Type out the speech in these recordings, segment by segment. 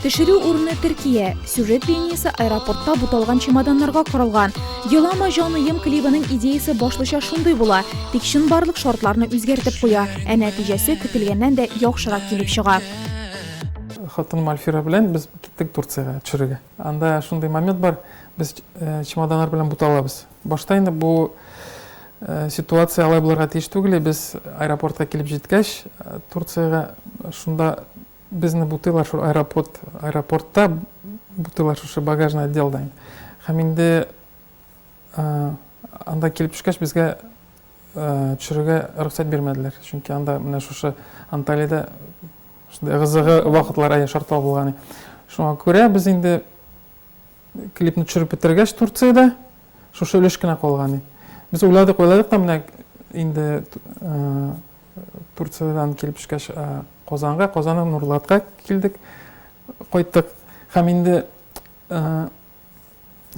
Төшерү урыны Төркия. Сюжет линиясе аэропортта буталган чемоданнарга корылган. Елама җаныем клибының идеясе башлыча шундый була, тик чын барлык шартларны үзгәртеп куя, ә нәтиҗәсе көтелгәннән дә яхшырак килеп чыга. Хатыным Альфира белән без киттек Турциягә төшерергә. Анда шундый момент бар, без чемоданнар белән буталабыз. Башта инде бу ситуация алай булырга тиеш түгел, и без аэропортка килеп җиткәч, Турциягә шунда безне бутыйлар шул аэропорт, аэропортта бутыйлар шушы багажный отделда. Һәм инде анда килеп төшкәч, безгә төшерергә рөхсәт бирмәделәр, чөнки анда менә шушы Анталиядә Шундый кызыгы вакытлар әйе шартлау булган. Шуңа күрә без инде клипны төшереп бетергәч Турциядә шушы өлеш кенә калган. Без уйладык, уйладык та менә инде Турциядән килеп төшкәч Казанга, Казаннан Нурлатка килдек, кайттык. Һәм инде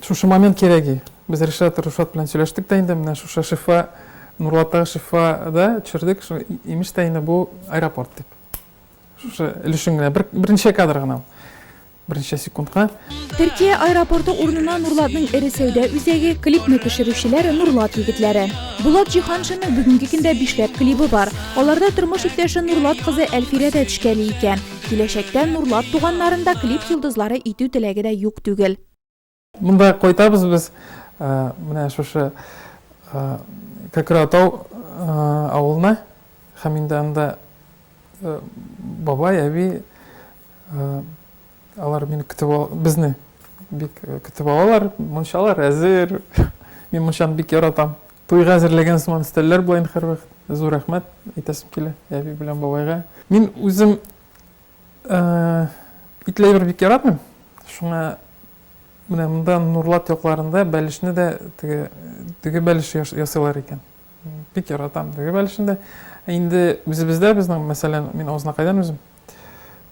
Шушы момент кирәги. Без Ришат, Рушат белән сөйләштек тә инде, менә шушы шифа, Нурлаттагы шифа да төшердек, шу, имеш тә инде бу аэропорт дип. Шушы өлешен генә, бер, берничә кадр гына ул. Берничә секундка. Төркия аэропорты урынына Нурлатның эре сәүдә үзәге, клипны төшерүчеләр Нурлат егетләре. Булат Җиһаншинның бүгенге көндә бишләп клибы бар. Аларда тормыш иптәше Нурлат кызы Әлфирә дә төшкәли икән. Киләчәктә Нурлат туганнарын да клип йолдызлары итү теләге дә юк түгел. Монда кайтабыз без, менә шушы Кәкратау авылына һәм инде анда бабай, әби алар мине көтеп ал, безне бик көтеп алалар, мунчалар әзер. Мин мунчаны бик яратам. Туйга әзерләгән сыман өстәлләр булайын һәрвакыт. Зур рәхмәт әйтәсем килә әби белән бабайга. Мин үзем итләйбер бик яратмыйм. Шуңа менә монда Нурлат якларында бәлешне дә теге дөге бәлеше ясыйлар икән. Бик яратам дөге бәлешен дә. Инде үзебездә безнең, мәсәлән, мин Азнакайдан үзем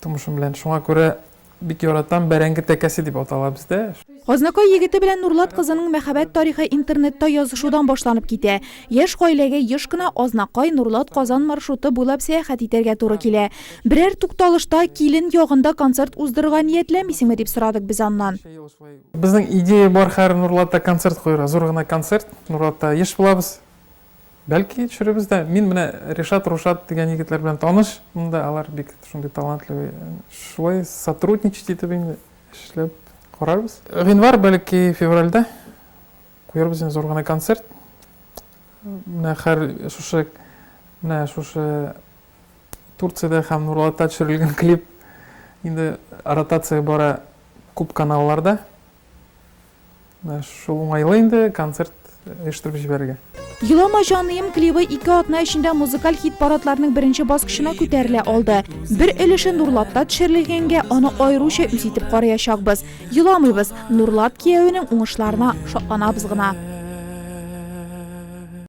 тумышым белән. Шуңа күрә Бик яратам, бәрәңге тәкәсе дип атала бездә. Азнакай егете белән Нурлат кызының мәхәббәт тарихы интернетта язышудан башланып китә. Яшь гаиләгә еш кына Азнакай, Нурлат, Казан маршруты буйлап сәяхәт итәргә туры килә. Берәр тукталышта, килен ягында концерт уздырырга ниятләмисеңме, дип сорадык без аннан. Безнең идея бар хәер Нурлатта концерт куярга, зур гына концерт. Нурлатта еш булабыз. Бәлки төшеребез дә. Мин менә Ришат, Рушат дигән егетләр белән таныш. Монда алар бик шундый талантлы. Шулай сотрудничать итеп инде эшләп карарбыз. Гыйнвар, бәлки февральдә куярбыз инде зур гына концерт. Менә хәр шушы менә шушы Турциядә һәм Нурлатта төшерелгән клип инде ротация бара күп каналларда. Менә шул уңайлы инде концерт оештырып җибәрергә. Елама җаныем клибы ике атна эчендә музыкаль хит-парадларның беренче баскычына күтәрелә алды. Бер өлеше Нурлатта төшерелгәнгә, аны аеруча үз итеп караячакбыз. Еламыйбыз, Нурлат киявенең уңышларына шатланабыз гына.